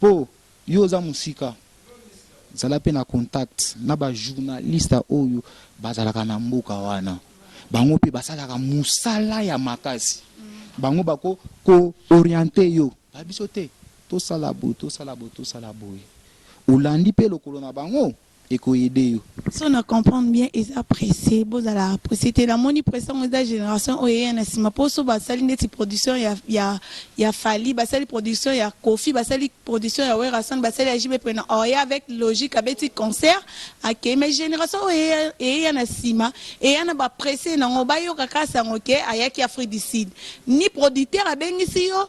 Po yo oza musika zala pe na contact na ba journaliste oyo bazalaka na mboka wana bango pe basalaka musala ya makasi bango bako ko oriente yo ba biso te tosala boye tosala boye tosala boye olandi pe lokolo na bango. eko aide yo. Soki na comprendre bien eza presse bozalaka presse te na moni presse yango eza generation oyo eya na sima po soki ba sali ndeti production ya ya ya fally ba sali production ya koffi ba sali production ya werrason ba sali ya JB prena or ya avec logique abeti concert akeyi mais generation oyo eya eya na sima eya na ba presse nango ba yoka kaka sango ke ayaki afrique du sud ni producteur abengisi yo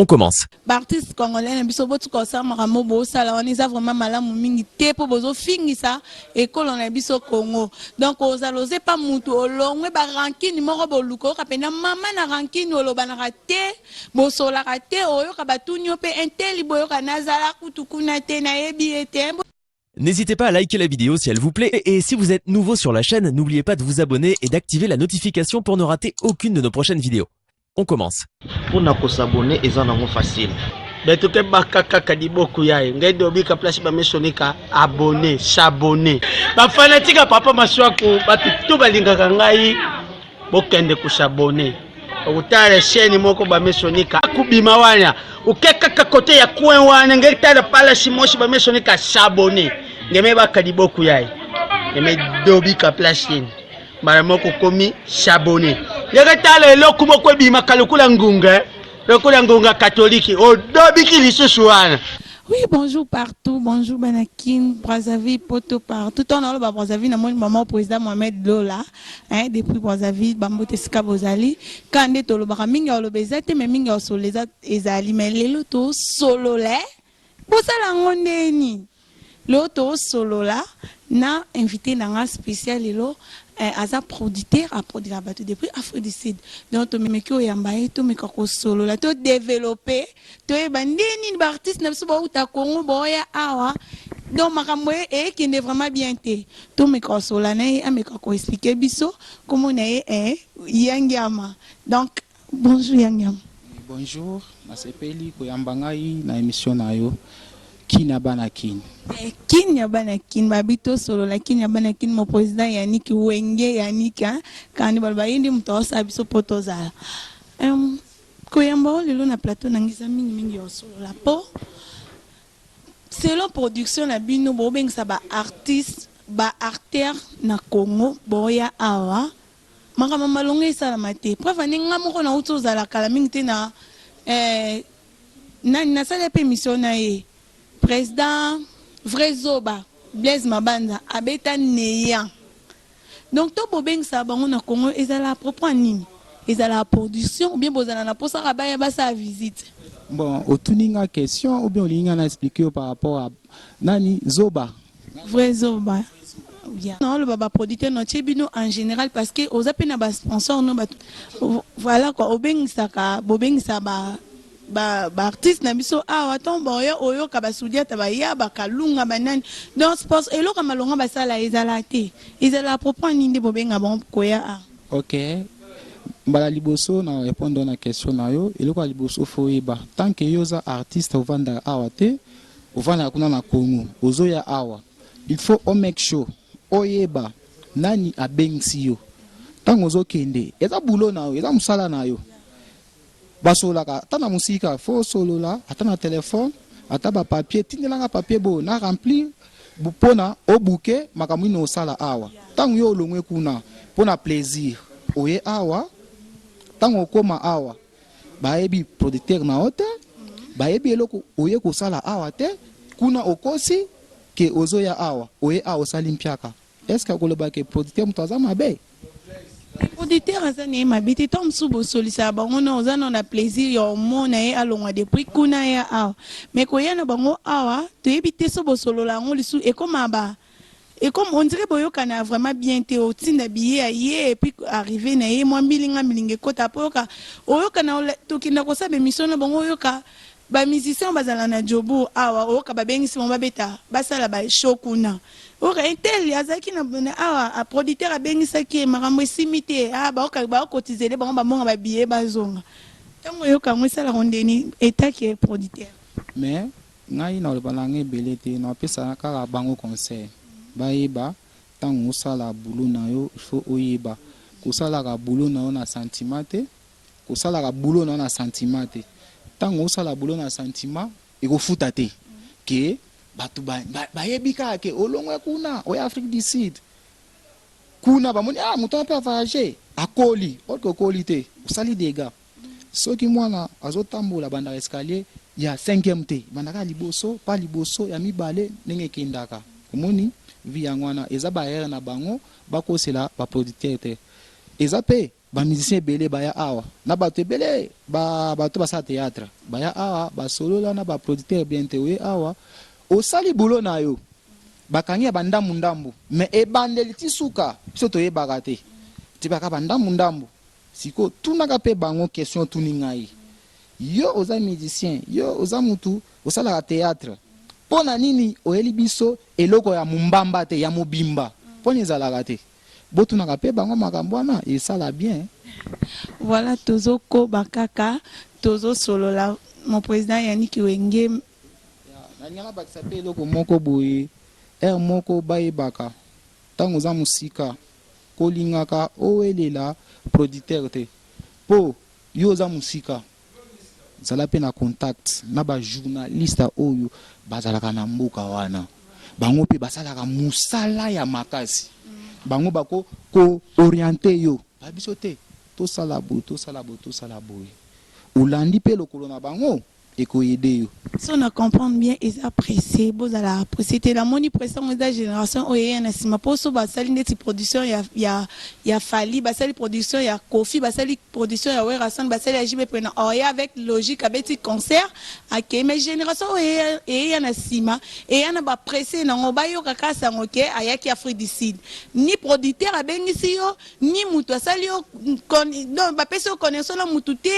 On commence. B'artistes congolais na biso botika kosala makambo bosala wana eza vraiment malamu mingi te mpo bozofingisa ekolo na biso Congo. Donc ozala oze pa mutu olongwe ba rancune moko boluka oyoka mpenza mama na rancune olobanaka te bosolaka te oyoka batuni yo mpe inteli boyoka nazala kutu kuna te nayebi ye te. N'hésitez pas à liker la vidéo si elle vous plaît et si vous êtes nouveau sur la chaîne, n'oubliez pas de vous abonner et d'activer la notification pour ne rater aucune de nos prochaines vidéos. On commence. Pour na ko s'abonner eza nango facile. Beto ke baka kaka liboku yaye ngai dobika place ba misoni ka abonner, s'abonner. Ba fanatique ya papa Masuaku batu tout balingaka ngai bokende ko s'abonner. Okutala chaîne moko ba misoni ka kubima wana. Oke kaka kote ya coin wana ngai tala pala simosi ba misoni ka s'abonner. Ngeme baka liboku yaye. Ngeme dobika place yene. mbala moko okomi sabone ndenge tala eloko moko ebimaka lokola ngunga eh. lokola ngunga katoliki odobiki lisusu wana Oui, bonjour partout, bonjour Banakin, Brazzaville, Poto, partout. On a le Brazzaville, mon maman, président Mohamed Lola, hein, depuis Brazzaville, Bambo Tesika Bozali. Quand on est au Lobara, Minga au Lobezate, mais Minga au Solezate, Ezali, mais les lotos solo, là. Bosala yango ndenge nini? Lelo toosolola na invite na nga special lelo eh, aza producteur aprodika bato depuis Afrique du Sud donc tomemeki oyamba ye tomeka kosolola to developpe toyeba ndenge nini ba artiste na biso bauta Congo baoya awa donc makambo e- ekende vraiment bien te tomeka kosolola na ye ameka koexplike biso kombo na ye eh, yangiama donc Bonjour ya Nyama. Bonjour na sepeli koyamba ngai na emission na yo kin ya bana kin. Eh, kin ya bana kin babi to solo la kin ya bana kin mon president Yannick wenge Yannick hein kandi baloba ye nde moto aosala biso po tozala um, koyamba o lelo na plateau na ngai eza mingi mingi ya osolola po selon production na bino bobengisa ba artiste ba artère na Congo boya awa Makambo ya malonga esalama te. Preuve en est nga moko na wuti ozala kala mingi te na eh, nani na sala pe emission na ye president vrai zoba Blaise Mabanza abeta neant donc to bobengisa bango na Congo ezala à propos ya nini? Ezala ya production ou bien bozala na posa kaka baya basala visite? Bon otuni nga question ou bien olingi nga na explique yo par rapport ya nani zoba Vrai zoba oya na oloba ba producteur no tie bino en general parce que oza pe na ba sponsor no ba voilà quoi obengisaka bobengisa ba ba ba artiste na biso awa ton boya oyoka basudiata baya bakalunga banani donc sport eloko malonga basala ezala te ezala propos nini nde bobenga bango koya a ok mbala liboso na répondre na question na yo eloko ya liboso fo oyeba tant que yo oza artiste ovandaka awa te Ofandaka kuna na Congo ozoya awa il faut o make sure oyeba nani abengisi yo tango ozokende eza boulot na yo eza musala na yo basololaka ata na musika il faut osolola ata na telephone ata ba papier tindela nga papier boye na remplir pona o bouquer makambo nini osala awa tango yo olongwe kuna pona plaisir oye awa tango okoma awa Bayebi producteur na yo te, bayebi eloko oye kosala awa te, kuna okosi que ozoya awa, oye awa osali mpiaka, est ce que akoloba que producteur moto aza mabe? Mais producteur aza na ye mabe te, tango mosusu bosolisaka bango nao, oza nao na plaisir ya omona ye alongwa depuis kuna aya awa, mais koya na bango awa toyebi te soki bosolola yango lisusu, ekomaka ba. Et comme on dirait boyokana vraiment bien te otinda billet ya ye et puis arrive na ye mwa milinga milinga ekota après oyoka oyoka na tokenda kosala ba emission na bango oyoka ba musiciens bazala na Jobourg awa oyoka babengisi bango babeta basala ba show kuna oyoka un tel azalaki na awa a producteur abengisaki ye makambo esimbi te ah baoka ba cotiser nde bango babonga ba billet bazonga ntango oyoka yango esalaka ondeni etat ke producteur mais Ngai naloba nanga ebele te napesa kaka bango conseil bayeba tango osala boulot na yo il faut oyeba kosalaka boulot na yo na sentiment te kosalaka boulot na yo na sentiment te tango osala boulot na sentiment ekofuta te que batu bayebi kaka que olongwe kuna oye Afrique du Sud kuna bamoni ah mutu wana pe a voyager akoli or que okoli te osali degat. Soki mwana azo tambola abandaka escalier ya cinquième te ebandaka ya liboso pas liboso ya mibale ndenge ekendaka omoni vie yango wana eza ba erreur na bango bakosela ba producteur te eza pe ba musicien ebele baya awa na batu ebele ba batu basala theatre baya awa basolola na ba producteur bien te oye awa osali boulot na yo bakangi ya ba ndambu ndambu mais ebandeli ti suka biso toyebaka te tibaka ba ndambu ndambu Sikoyo tunaka pe bango question otuni ngai. Yo oza musicien, yo oza mutu osalaka theatre, pona nini oyeli biso eloko ya mumbamba te, ya mobimba? Pona ezalaka te? Botunaka pe bango makambo wana esala bien. Voilà tozo koba kaka tozo solola mon president Yannick wenge. Ya nalingi na bakisa pe eloko moko boye, heure moko bayebaka tango oza musika. kolingaka owelela producteur te po yo oza musika zala pe na contact na ba journaliste oyo bazalaka na mboka wana bango pe basalaka musala ya makasi bango bako ko oriente yo ba biso te tosala boye tosala boye tosala boye olandi pe lokolo na bango. eko aide yo. Soki na comprendre bien eza presse bozala presse te na moni presse yango eza generation oyo eya na sima po soki basali ndeti production ya ya ya fally basali production ya koffi basali production ya werrason basali ya JB prena oya avec logique abeti concert akeyi mais generation oyo eya eya na sima eya na ba presse nango bayoka kaka sango ke ayaki afrique du sud ni producteur abengisi yo ni mutu asali yo donc bapesi yo connaissance na mutu te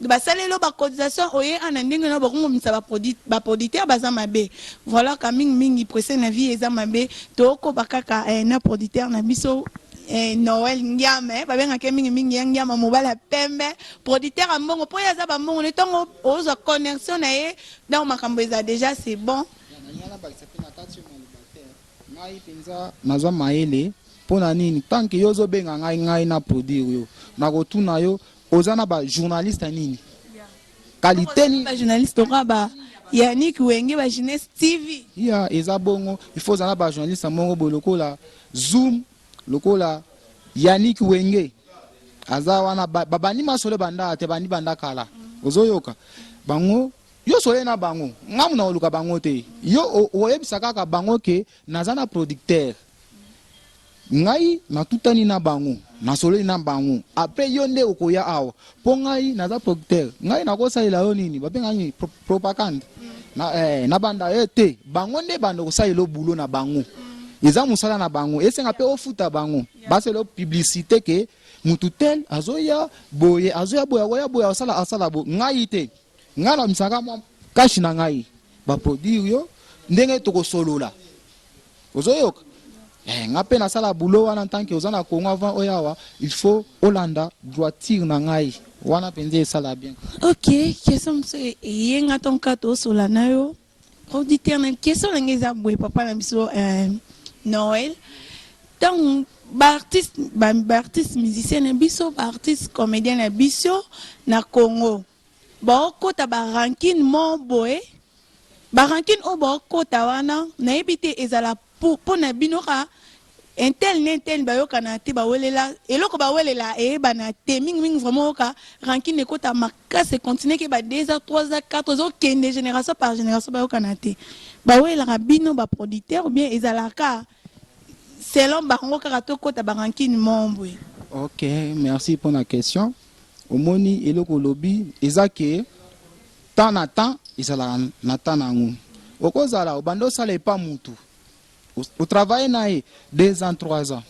basaleli yo ba cotisation oye ana ndenge na bakongomisa ba producteur baza mabe voilà ka mingi mingi presse na vie eza mabe tokoba kaka eh, na producteur na biso eh, noel ngiama eh, babengaka ye mingimingi ya ngiama mobali ya pembe producteur ya mbongo mpo ye aza bambongo ne ntongo ozwa connexion na ye donc makambo eza déjà c'est bon Ngai penza naza mayele pona nini tant que yo ozo benga ngai ngai na produire yo nako tuna yo oza na ba journaliste nini qualite nini ba journaliste toka ba Yannick Wenge ba Jeunesse TV ya eza bongo il faut ozala ba journaliste moko bo lokola Zoom lokola Yannick Wenge aza wana ba bandi masolo banda te bandi banda kala ozo yoka bango Yo soleil na bango nga muna koluka bango te yo oyebisa kaka bango ke naza na producteur ngai natutani na bango na soleli na bango apres yo nde okoya awa po ngai naza producteur ngai nakosalela yo nini babenga nini Pro, propagande na, eh, na banda ye eh, te bango nde banda kosalela bulo na bango eza mosala na bango esenga pe ofuta bango baselo publicité ke mutu tel azoya boye azoya boye akoya boye asala asala bo ngai te Nga na misaka mwa cash na ngai ba produire yo ndenge toko solola ozo yoka Eh, nga mpe nasala boulot wana ntanke oza na Congo avant oyo awa il faut olanda droiture na ngai wana mpenza esala bien. Ok, question mosusu e- eye nga ntango kaka tosola na yo producteur na question na ngai eza boye papa na biso eh, Noël ntango baartiste baartiste musicien na biso baartiste comédien na biso na Congo Baokota ba rancune moko boye, ba rancune oyo baokota wana nayebi te ezala pona bino kaka un tel na un tel bayokana te, bawelela eloko bawelela eyebana te, mingi mingi vraiment oyoka rancune ekota makasi e continuer ke ba deux ans, trois ans, quatre ans ezokende generation par generation bayokana te, bawelelaka bino ba producteurs ou bien ezala kaka selon bango kaka tokota ba rancune moko boye? Ok merci pona question. omoni eloko olobi eza ke temps na temps ezalaka na temps na yango okozala obanda osala epa mutu otravaille na ye deux ans trois ans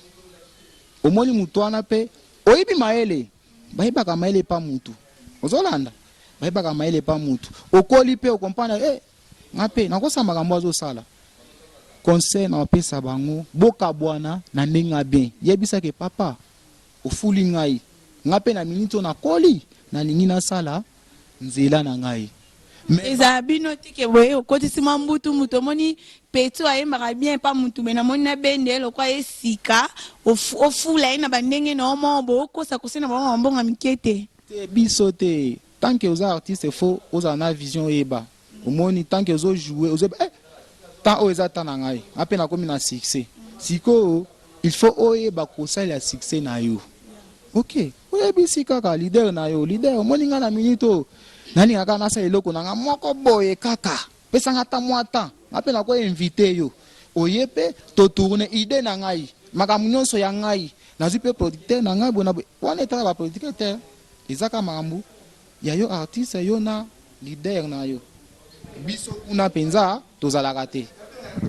omoni mutu wana mpe oyebi mayele bayebaka mayele epa mutu ozolanda bayebaka mayele epa mutu okoli mpe okompana e eh, nga mpe nakosa makambo azosala conseil na opesa bango bokabwana na ndenge ya bien yebisake papa Ofuli ngai, ngai mpe na minute oyo nakoli, nalingi nasala nzela na ngai mais. Ezala bino te que boye okotisi mwa mbutu mbutu, omoni Peto ayembaka bien epa mutu mais namoni na bende ye lokola ye sika, ofula ye na ba ndenge na yo moko boye, okosa kosa ye na ba mwa ba mbongo ya mike te. Te biso te, tant que oza artiste faut ozala na vision oyeba Omoni tant que ozo jouer ozo eh temps oyo eza temps na ngai nga pe nakomi na succès sikoyo il faut oyeba kosalela succès na yo ok oyebisi kaka leader na yo leader omoni nga na minute oyo nalinga kaka nasala eloko na nga moko boye kaka pesa nga ata mwa temps nga pe nako invite yo oye pe to tourner idee na ngai makambo nyonso ya ngai nazwi pe producteur na ngai boye na boye wana etala ba producteur te eza kaka makambo Ya yo artiste yo na leader na yo biso kuna penza tozalaka te.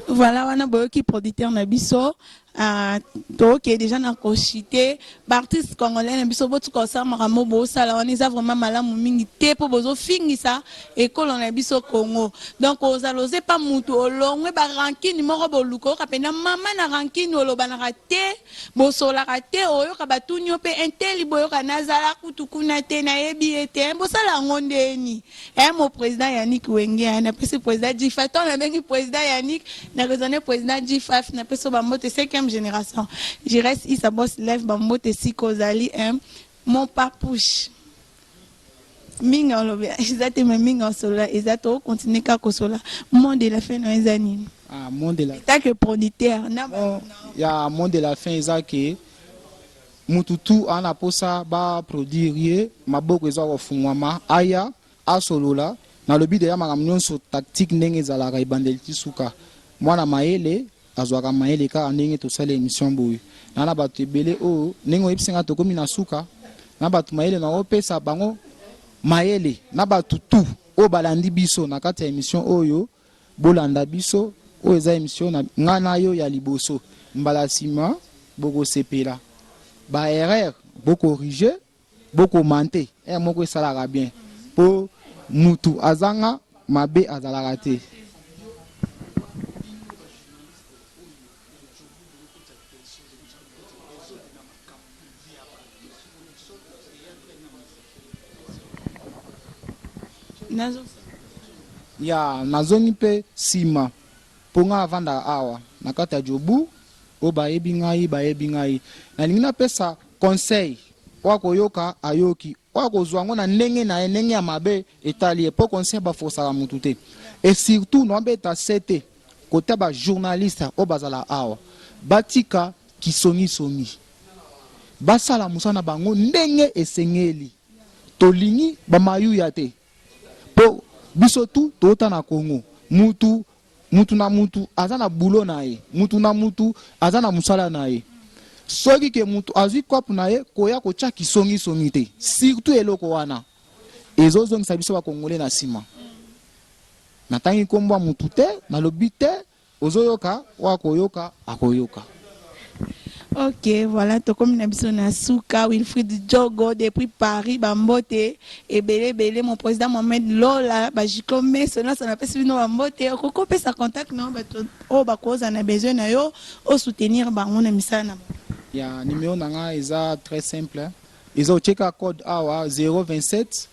Voilà wana boyoki producteur na biso ah, toke dejà na kochite baartiste congolais na biso botika kosala makambo bosala wana eza vraiment malamu mingi te mpo bozofingisa ekolo na biso congo donc ozala oza epa motu olongwe barankine moko boluka oyoka mpenza mama na rankine olobanaka te Bosolaka te oyoka batuni yo pe hein teli boyoka nazala kutu kuna te nayebi ye te hein bosala yango ndeni hein mon president Yannick wenge hein napesi president G-Faf tango nabengi president Yannick na raisonne president G-Faf napesi yo ba mbote cinquième generation Giresse Issa Boss Lève ba mbote esika ozali hein mon papouche Minga olobi eza te mais minga osolola eza to continuer ka kosola mot de la fin na eza nini ah mot de la tant que producteur na ba ya mot de la fin eza que mutu tout ana posa ba produire ye maboko eza ko fungwama aya asolola nalobi deja makambo nionso tactique ndenge ezalaka ebandeli ti suka mwana mayele Azwaka mayele kaka ndenge tosali emission boye na na batu ebele oyo ndenge oyebisi nga tokomi na suka na batu mayele na opesa bango mayele na batu tout oyo balandi biso na kati ya emission oyo bolanda biso oyo eza emission na nga na yo ya liboso mbala sima bokosepela ba erreur bokorige Bo commente heure moko esalaka bien po mutu azanga mabe azalaka te. Ya nazongi pe sima po ngai navandaka awa na kati ya Jobourg oyo bayebi ngai bayebi ngai nalingi napesa Conseil, oyo akoyoka ayoki, oyo akozua yango na ndenge na ye, ndenge ya mabe etali ye, po conseil ba forcaka mutu te et surtout na beta CT kote ya ba journalistes oyo bazalaka awa, batika kisongi songi, basala musala na bango ndenge esengeli, tolingi ba mayuya te po biso tout towuta na Congo, mutu. Mutu na mutu aza na boulot na ye, mutu na mutu aza na musala na ye. Soki ke mutu azwi coop na ye, koya kotia kisongi songi te. Surtout eloko wana ezo zongisa biso ba congolais na sima. Natangi kombo ya mutu te, nalobi te, ozo yoka oyo akoyoka akoyoka. Ok, voilà, tokomi na biso na suka. Wilfried Djogo depuis Paris, Bambote, ebele ebele, mon président Mohamed Lola, Bajiko Meso, na sana pesi bino Bambote, okoko pesa contact na bato oyo bakoza na besoin na yo, o soutenir bango na misala na bango. Ya numéro na nga eza très simple. Eza ocheka code awa 027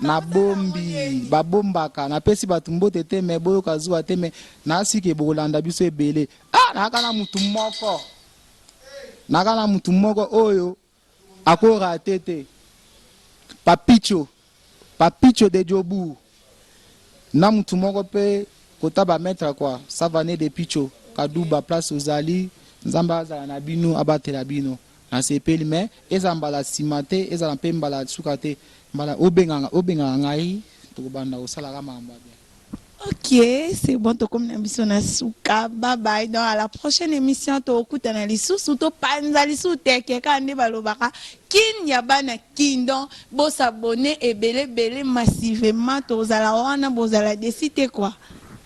Na bombi, ba bombaka. Na pesi batu mbote te mais boyoka zuwa te mais na si ke boko landa biso ebele. Ah naka na mutu moko. Naka na mutu moko oyo ako rate te. Papicho. Papicho de Jobourg. Na mutu moko pe kota ba maitre quoi. Savane de Picho. Kaduba place ozali. Nzambe azala na bino abatela bino. Nasepeli mais ezala mbala sima te ezala mpe mbala ya suka te mbala obengaka obengaka ngai tokobanda kosala ka makambo ya bien. Ok c'est bon tokomi na biso na suka bye bye donc à la prochaine emission tokutana lisusu topanza lisusu teke kaka nde balobaka kin ya bana kin donc bo s'abonner ebele ebele massivement tozala wana bozala desi te quoi.